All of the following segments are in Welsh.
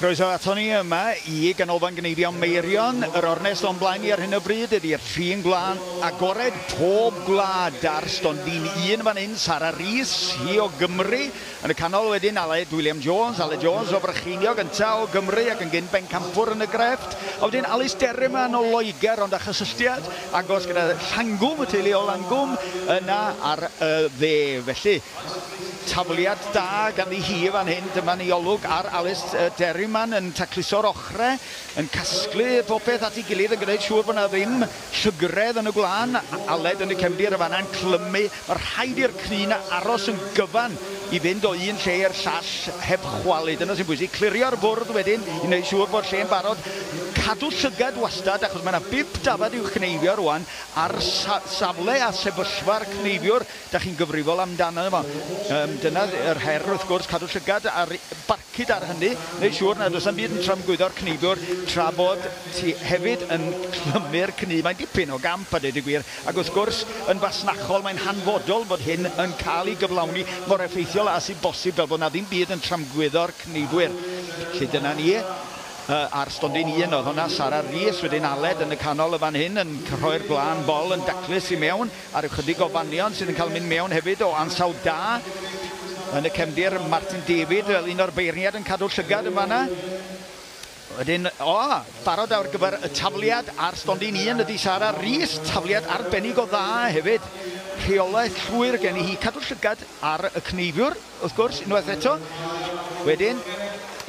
Croeso ato ni yma i Ganolfan Gneifio Meirion. Yr ornest o'n blaen ni ar hyn o bryd ydy'r ffin gwlân agored pob gwlad ar stondin un fan hyn, Sara Rees, hi o Gymru. Yn y canol wedyn, Aled William Jones, Aled Jones o Frycheiniog, yntau o Gymru ac yn gyn bencampwr yn y grefft. A wedyn Alys Derryman o Loegr, ond â chysylltiad agos gyda Llangwm, y teulu o Langwm, yna ar y dde. Felly, tafliad da ganddi hi fan hyn. Dyma ni olwg ar Alys Derryman yn tacluso'r ochrau, yn casglu popeth at ei gilydd, yn gwneud siŵr bod 'na ddim Llygredd yn y gwlân, Aled yn y cefndir, y fannau'n clymu, mae rhaid i'r cryn aros yn gyfan i fynd o un lle i'r llall heb chwalu, dyna sy'n bwysig, clirio'r fwrdd wedyn i wneud siŵr bod lle'n barod, cadw llygad wastad achos mae 'na bump dafad i'w chneifio rwan ar safle a sefyllfa'r cneifiwr, Dach chi'n gyfrifol amdano fo. Yym, dyna yr her, wrth gwrs, cadw llygad ar barcud ar hynny, neu' siŵr nad oes 'na'm byd yn tramgwyddo'r cnifwr, tra bod ti hefyd yn clymu'r cnu. Mae'n dipyn o gamp, a dweud y gwir, ac wrth gwrs, yn fasnachol, mae'n hanfodol fod hyn yn cael ei gyflawni mor effeithiol â sy'n bosib, fel bod 'na ddim byd yn tramgwyddo'r cnifwyr. Felly, dyna ni. Yy, a'r stondin un oedd honna, Sara Rees, wedyn Aled yn y canol yn fan hyn, yn rhoi'r gwlân bol yn daclus i mewn. Ar ychydig o fanion sydd yn cael mynd mewn hefyd o ansawdd da yn y cefndir, Martin David fel un o'r beirniad yn cadw llygad yn fanna. Wedyn, o, barod ar gyfer y tafliad ar stondin un ydy Sara Rees, tafliad arbennig o dda hefyd. Rheolaeth llwyr gen i hi, cadw llygad ar y cneifiwr. Wrth gwrs, unwaith eto. Wedyn,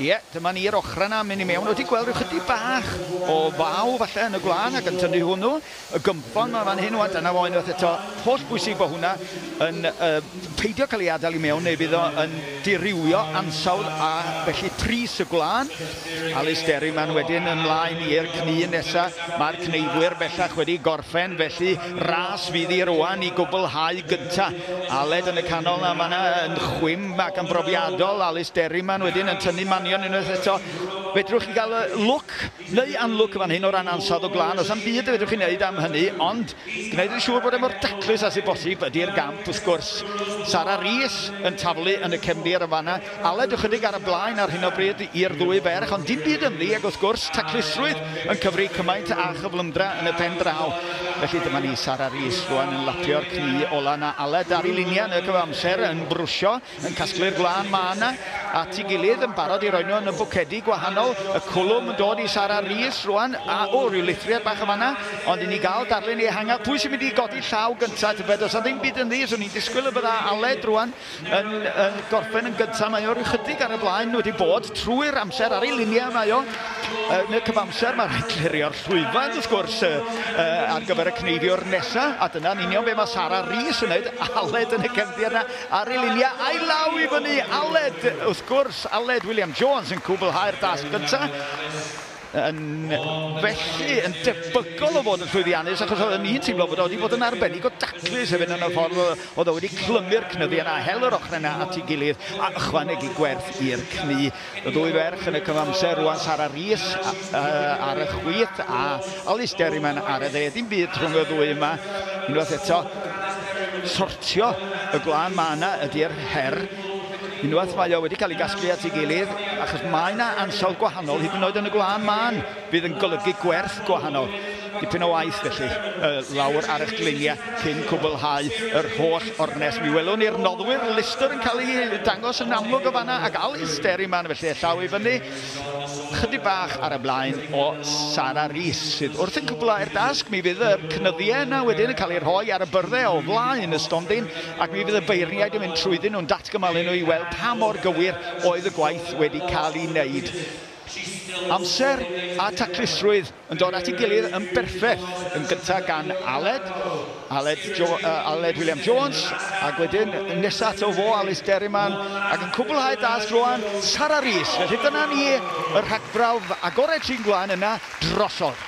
ie, dyma ni i'r ochrau yna, mynd i mewn. Wedi gweld rhyw chydig bach o faw falle yn y gwlân ac yn tynnu hwnnw. Y gymffon yma fan hyn, wan, dyna fo unwaith eto. Holl bwysig bod hwnna yn uh, peidio cael ei adael i mewn neu bydd o yn dirywio ansawdd a felly pris y gwlân. Alys Derryman wedyn yn mlaen i'r cnu nesa. Mae'r cneifwyr bellach wedi gorffen felly ras fydd i rwan i gwblhau gynta. Aled yn y canol na mae na yn chwim ac yn brofiadol. Alys Derryman wedyn yn tynnu manion unwaith eto. Fedrwch chi gael lwc neu anlwc fan hyn o ran ansawdd o glân. Os am byd y fedrwch chi wneud am hynny ond gwneud yn siŵr bod e mor daclus as i bosib ydy'r gamp wrth gwrs. Sara Rees yn taflu yn y cefndir yn fanna. Aled ychydig ar y blaen ar hyn o bryd i'r ddwy ferch, ond dim byd ynddi, ac wrth gwrs, taclusrwydd yn cyfri cymaint â chyflymdra yn y pen draw. Felly dyma ni, Sara Rees rwan yn lapio'r cni ola 'na, Aled ar ei linia yn y cyfamser, yn brwsio, yn casglu'r gwlân ma' 'na, at ei gilydd, yn barod i roi nhw yn y bwcedi gwahanol. Y cwlwm yn dod i Sara Rees rwan, a, o, ryw lithriad bach yn fan 'na, ond i ni gael darlun ehangach, pwy sy'n mynd i godi llaw gynta', tybed, does 'na ddim byd ynddi, 'swn i'n disgwyl y bydda Aled rwan, Yn gorffen yn gyntaf, mae o rychydig ar y blaen wedi bod trwy'r amser ar ei luniau mae o. Yn y cyfamser mae rhaid clirio'r llwyfan wrth gwrs ar gyfer y cneifio'r nesaf a dyna'n union be mae Sara Rhys yn wneud. Aled yn y cefndir yna ar ei luniau a'i law i fyny. Aled wrth gwrs, Aled William Jones yn cwblhau'r dasg gyntaf. yn felly yn debygol o fod yn llwyddiannus achos oedd yn un teimlo bod wedi bod yn arbennig o daclus hefyd yn y ffordd oedd o wedi clymu'r cnyddu yna, hel yr ochrau yna at ei gilydd a ychwanegu gwerth i'r cnu. Y ddwy ferch yn y cyfamser rwan, Sara Rhys ar y chwith a Alice Derryman ar y dde. Dim byd rhwng y ddwy yma. Unwaith eto, sortio y gwlân mae yna ydy'r her. Unwaith mae o wedi cael ei gasglu at ei gilydd, achos mae yna ansawdd gwahanol, hyd yn oed yn y gwlân mân, fydd yn golygu gwerth gwahanol. Dipyn o waith felly, y lawr ar eich gliniau cyn cwblhau yr holl ornest. Mi welwn ni'r noddwyr Lister yn cael ei dangos yn amlwg o fanna, ac Alice Derryman felly, y llaw i fyny, chydig bach ar y blaen o Sara Rees, sydd wrth yn cwblhau'r dasg. Mi fydd yr cnyddiau yna wedyn yn cael eu rhoi ar y byrddau o flaen y stondin, ac mi fydd y beirniaid yn mynd trwyddyn nhw'n datgymalu nhw i weld pa mor gywir oedd y gwaith wedi cael ei wneud. Amser a taclusrwydd yn dod at ei gilydd yn berffaith, yn gyntaf gan Aled, Aled, jo, uh, Aled William Jones, ac wedyn nesaf ato fo, Alys Derryman, ac yn cwblhau dasg rwan, Sara Rees. Felly dyna ni, y rhagbrawf agored sy'n gwlan yna drosodd.